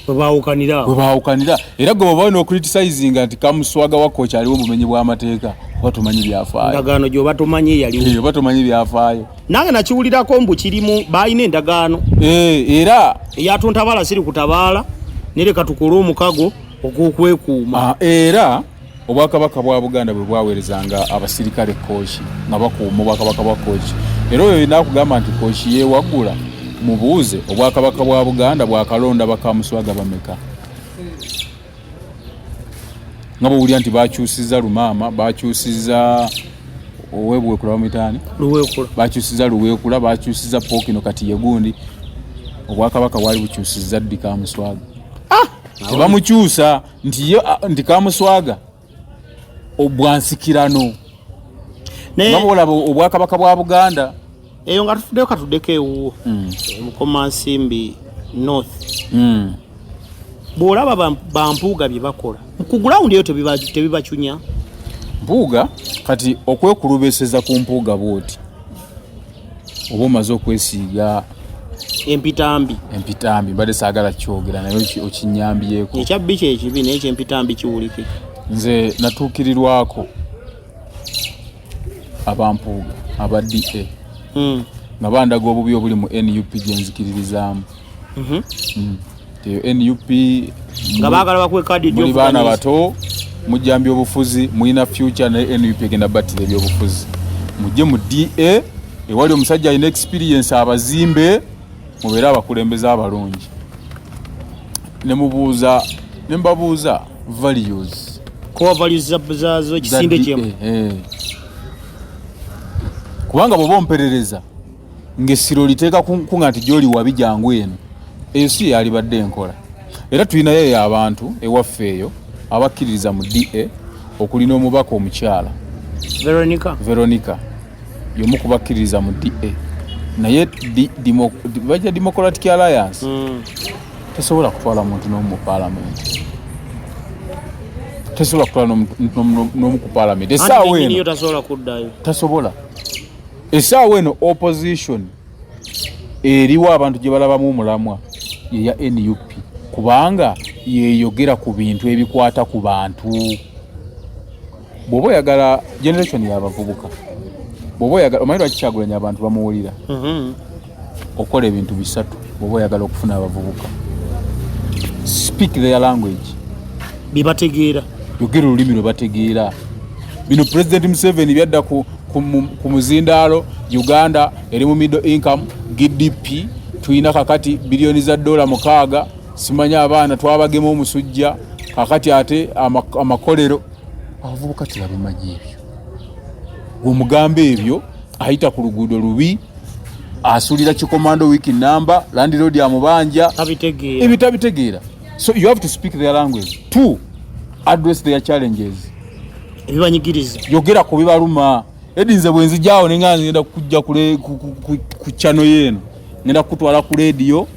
webaawukanira era gwe baba olina okuritisizinga nti kamuswaga wakka okyaliwo obumenyi bw'amateeka oba tomanyi byafaayoendagaano gyoba tomanyi eyalioba tomanyi byafaayo nange nakiwulirako mbu kirimu baalina endagaano eh, era eyatuntabaala siri kutabaala nereka tukole omukago ogw'okwekuuma ah, era Obwakabaka bwa Buganda bwe bwaweerezanga abasirikale Kooki nga bakuuma Obwakabaka bwa Kooki. Era oyo yenna akugamba nti Kooki yeewaggula mubuuze Obwakabaka bwa Buganda bwakalonda bakamuswaga bameka nga bwowulira nti bakyusiza Lumaama, bakyusiza Owebwekula bamwitaani Luweekula, bakyusiza Luweekula, bakyusiza Pookino kati ye gundi. Obwakabaka bwali bukyusiza ddi Kamuswaga? Ah! Tebamukyusa. nti yo nti kamuswaga obwansikirano nga bwolaba obwakabaka bwa buganda eyo nga tufudeyo katudeko ewuwo mm. eh, mukoma nsimbi north mm. bwolaba bampuuga byebakola kugulawundi eyo tebibacunya mpuuga kati okwekulubeseza ku mpuuga bwoti oba omaze okwesiiga empitambi empitambi mbadde saagala kyogera naye okinyambyeko ekyabbi kyekibi naye kyempitambi kiwulike nze natuukirirwako abampuuga aba da hmm. nga bandaga obubi obuli mu nup gyenzikiririzaamu mhm. hmm. nup nga bagala bakuwe kadi muli baana bato mujjambya obufuzi mulina future naye nup egenda battira ebyobufuzi mujje mu da ewali omusajja alina experience abazimbe mubeere abakulembeze abalungi nemubuuza nembabuuza values core values zazo ekisinde kyemu eh, eh. kubanga bwoba omperereza ng'essiro liteeka kunkuga nti gy'oli wabi jangu eno ensi yalibadde enkola era tulinayo eyo abantu ewaffe eyo abakkiririza mu da okuli n'omubaka omukyala veronica veronica yomu kubakkiririza mu da naye baja democratic alliance hmm. tesobola kutwala muntu n'omu mu palamenti tesobola kutwala n'omu ku palamenti esaawa eno tasobola Esaawa eno opposition eriwo abantu gye balabamu omulamwa ye ya NUP kubanga yeyogera ku bintu ebikwata ku bantu. Bw'oba oyagala generation y'abavubuka, bw'oba oyagala omanyi lwaki Kyagulanyi abantu bamuwulira? Mm-hmm. okola ebintu bisatu bwoba oyagala okufuna abavubuka speak their language byebategeera yogera olulimi lwebategeera bino president museveni byadda ku, ku, ku muzindaalo uganda eri mu middle income gdp tulina kakati biliyoni za dola mukaaga simanyi abaana twabagema omusujja kakati ate amakolero abavubuka tebabimanyi ebyo gweomugamba ebyo ayita ku luguudo lubi asulira kikomando wiki namba landiroodi amubanja ebyo tabitegeera so you have to speak their language to address their challenges ebibanyigiriza yogera ku bibaluma edi nze bwenzijawo nenga ngenda kujja ku chano yeeno ngenda kukutwala ku lediyo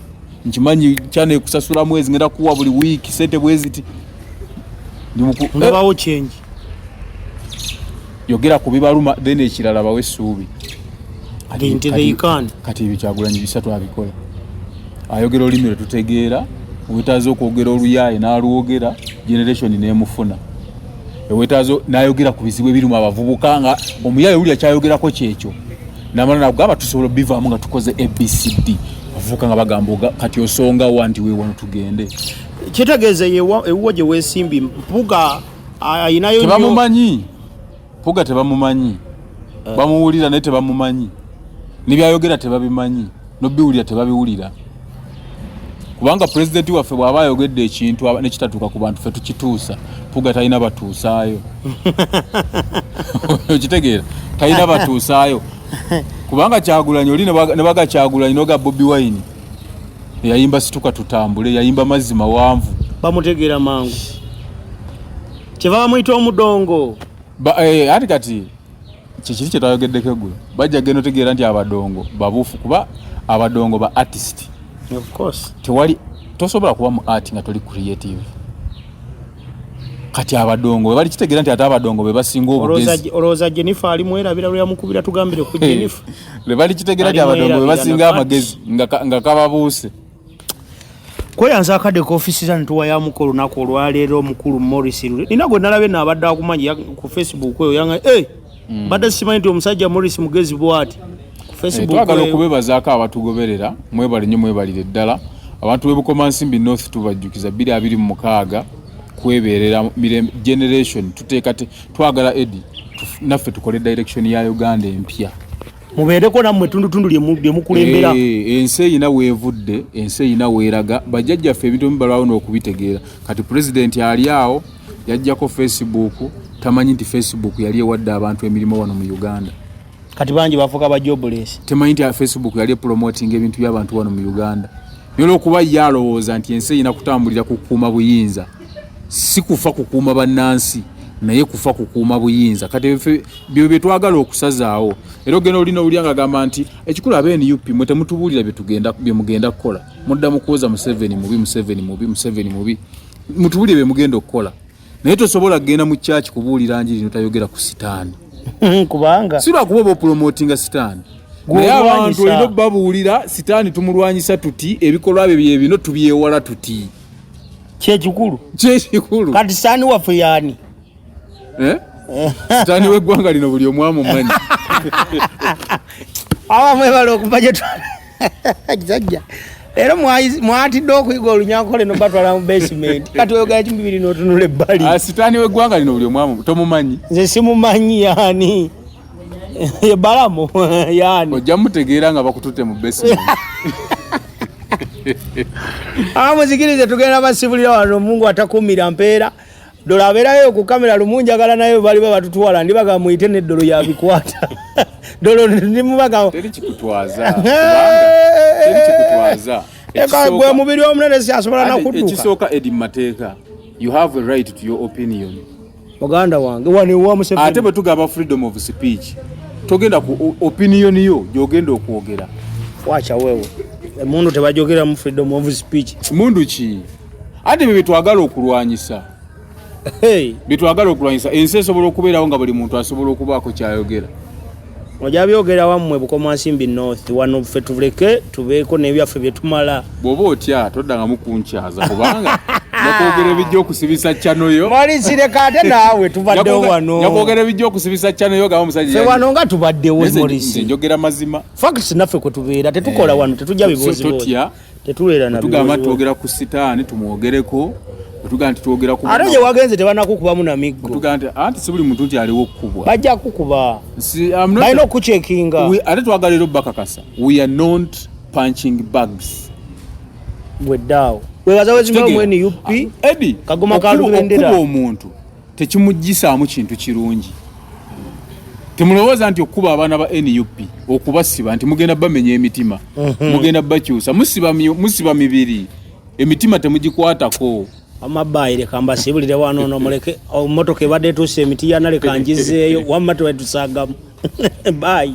nkimanyi chano ekusasula mwezi ngenda kuwa buli wiiki sente bweziti ngabawo eh. kyengi yogera ku bibaluma then ekirala bawe essuubi kati ebyo kyagulanyi bisatu abikola ayogera olulimi lwe tutegeera owetaaza okwogera oluyaaye n'alwogera generation n'emufuna ewetaaza n'ayogera ku bizibu ebirimu abavubuka nga omuyaaye wuli akyayogerako kyekyo namala nagamba tusobola obivaamu nga tukoze abcd avuka nga bagamba kati osonga wa nti wewano tugende kitegeeza ewuwo gye weesimbi mpuga ayinayo tebamumanyi mpuga tebamumanyi eh. bamuwulira naye tebamumanyi nebyayogera tebabimanyi nobiwulira tebabiwulira kubanga pulezidenti waffe bw'aba ayogedde ekintu nekitatuuka ku bantu fe tukituusa puga talina batuusaayo okitegeera talina batuusaayo kubanga kyagulanyi oli nebagakyagulanyi noga bobi wine yayimba situka tutambule yayimba mazzi mawanvu bamutegeera mangu kyeva bamuyita omudongo eh, ati kati kyekiri kyetayogeddeko eggulo bajja genda otegeera nti abadongo babuufu kuba abadongo ba artist tewali tosobola kuba mu art nga toli creative kati abadongo webali kitegeera nti ate abadongo bebasinga obugezi olowooza jenifa alimwerabira lweyamukubira tugambire ku jenifa lwe balikitegera ti abadongo be basinga amagezi nga kababuuse kweyanza akadde ka ofisi za nituwa ya mukolo naku olwaleero omukulu morris lule nina gwe nalabye naabadde akumanyi ku facebook eyo yanga e mm. badde simanyi nti omusajja morris mugezi bwati eh, twagala okubebazaako abatugoberera mwebale nyo mwebalire ddala abantu bebukoma nsimbi north tubajjukiza 226 kweberera generation tuteekate twagala edi naffe tukole direction ya uganda empya mubeereko nammwe etundutundu lyemukulembera eh, ensi eyina weevudde ensi eyina weeraga bajjajjaffe ebintu bimu balwawo n'okubitegeera kati pulezidenti ali awo yajjako facebook tamanyi nti facebook yali ewadde abantu emirimu wano mu uganda kati bangi bafuuka bajobules temanyi nti facebook yali epromoting ebintu by'abantu wano mu uganda nolwokuba ye alowooza nti ensi eyina kutambulira kukuuma buyinza si kufa kukuuma bannansi naye kufa kukuuma buyinza kati byo byetwagala okusazaawo era ogenda olina owulya nga agamba nti ekikulu aba nup mwe temutubuulira byemugenda kukola mudda mukuwoza museveni mubi museveni mubi museveni mubi mutubuulire byemugenda okukola naye tosobola kugenda mu kyaki kubuulira njiri notayogera ku sitaani kubanga si lwakuba oba opulomotinga sitaani naye abantu olina obabuulira sitaani tumulwanyisa tuti ebikolwa bye byebino tubyewala tuti kyekikulu kyekikulu kati sani waffe yani eh? sitani weggwanga lino buli omwamu omanyi awa mwebale okuva gyetwala kisajja era mwatidde okuyiga olunyankole nobatwala mu basement kati oyogera kimu bibiri notunula ebbali ah, sitani weggwanga lino buli omwamu tomumanyi nze simumanyi yani balamu yani ojja mutegeera nga bakututte mu basement ah, muzikirize tugenda basibulira wano mungu atakumira mpeera dola abeerayo ku kamera lumu njagala naye bali babatutwala ndibaga muyite neddolo yabikwata dolo ndimubaga gwe mubiri omunene siasobola nakuduka ekisooka edi mateeka you have a right to your opinion muganda wange wano ewa museveni ate bwe tugaba freedom of speech togenda ku opinion yo gyogenda okwogera wacha wewe emundu tebajogera mu freedom of speech mundu ki ate bye byetwagala okulwanyisa hey. byetwagala okulwanyisa ensi esobola okubeerawo nga buli muntu asobola okubaako kyayogera oja byogera wammwe bukomansimbi north wano ffe tuleke tubeeko nebyaffe byetumala bwoba otya toddangamu kunkyaza kubanga nakwogera ebijja okusibisa cano yo malisireka ate naawe tubaddewo wano nakwogera ebijja okusibisa cano yo gaba musajja wano nga tubaddewo njogera mazima facts naffe kwe tubeera tetukola eh, wano tetujja bibooziboozi tetugamba twogera ku sitaani tumwogereko ate gye wagenze tebanakukubamu na miggoanti si buli muntu nti aliwo okukubwa bajja kukuba balina okukucekinga ate twagala era obakakasa we are not punching bags gweddaawo webaza wezimamu nup ah, kagoma kalubendera omuntu tekimuggyisaamu kintu kirungi temulowooza nti okukuba abaana ba nup okubasiba nti mugenda bamenya emitima mhm. mugenda bakyusa musiba mibiri emitima temugikwatako amabayireka mbasibulire wano no muleke omotoka ebadde etuuse emiti yanaleka njizeeyo wamma twetusagamu bayi